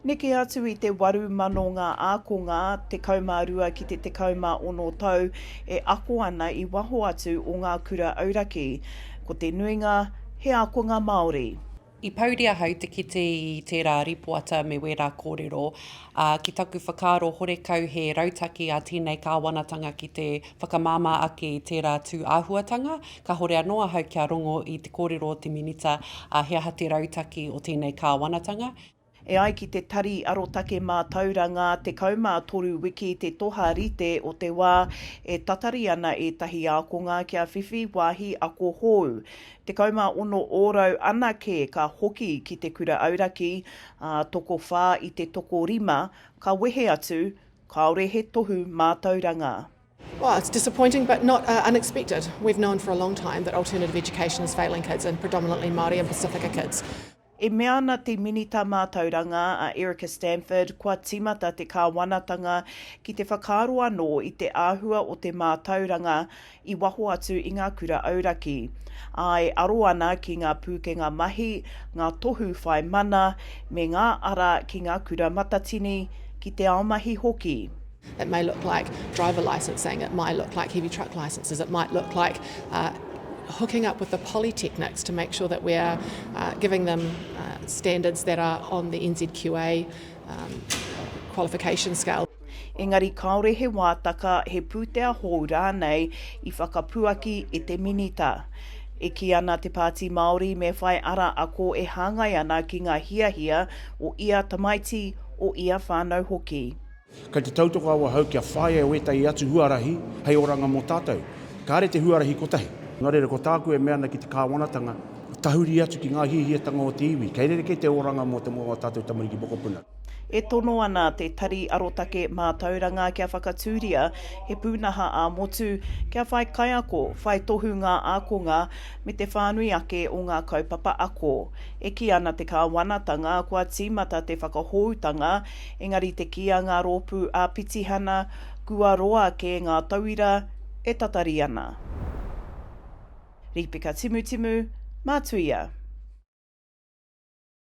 Neke atu i te 8,000 ngā ākonga, 12 ki te 16 tau, e ako ana i waho atu o ngā kura auraki. Ko te nuinga, he ākonga Māori. I pouri ahau te kite i tērā rīpoata me wērā kōrero, ā, ki taku whakaaro horekau he rautaki a tēnei kāwanatanga ki te whakamāmā ake i tērā tū āhuatanga, Kahore anō ahau kia rongo i te kōrero o te Minita, ā, he aha te rautaki o tēnei Kāwanatanga? E ai ki te Tari Arotake Mātauranga, 13 wiki te toha rite o te wā e tatari ana ētahi ākonga kia whiwhi wāhi ako hou. 16 ōrau anake ka hoki ki te kura auraki, ā, tokowhā i te tokorima ka wehe atu, kāore he tohu mātauranga. Well, it's disappointing but not uh, unexpected. We've known for a long time that alternative education is failing kids and predominantly Māori and Pacifica kids. E mea ana te Minita Mātauranga a Erica Stanford kua tīmata te kāwanatanga ki te whakaaro anō i te āhua o te mātauranga i waho atu i ngā kura auraki. Āe aro ana ki ngā pūkenga mahi, ngā tohu whai mana me ngā ara ki ngā kura matatini, ki te ao mahi hoki. It may look like driver licensing, it might look like heavy truck licences, it might look like hooking up with the polytechnics to make sure that we are giving them standards that are on the NZQA qualification scale. Engari kāore he wātaka, he pūtea hou rānei i whakapuaki e te Minita. E kī ana te Pāti Māori me whai ara ako e hāngai ana ki ngā hiahia o ia tamaiti, o ia whānau hoki. Kei te tautoko awahou kia whāia e wētahi atu huarahi hei oranga mō tātou. Kāre te huarahi kotahi. Nō reira, ko tāku e mea ana ki te Kāwanatanga, tahuri atu ki ngā hiahiatanga o te iwi. Kei rerekē te oranga mō te moa o ā tātou tamariki mokopuna. E tono ana Te Tari Arotake Mātauranga kia whakatūria he pūnaha ā-motu kia whai kaiako, whai tohu ngā ākonga me te whānui ake o ngā kaupapa ako. E kī ana te Kāwanatanga kua tīmata te whakahōutanga Engari te kī a ngā rōpū ā-pitihana, kua roa kē ngā tauira e tatari ana. Rīpeka timutimu, mātuia.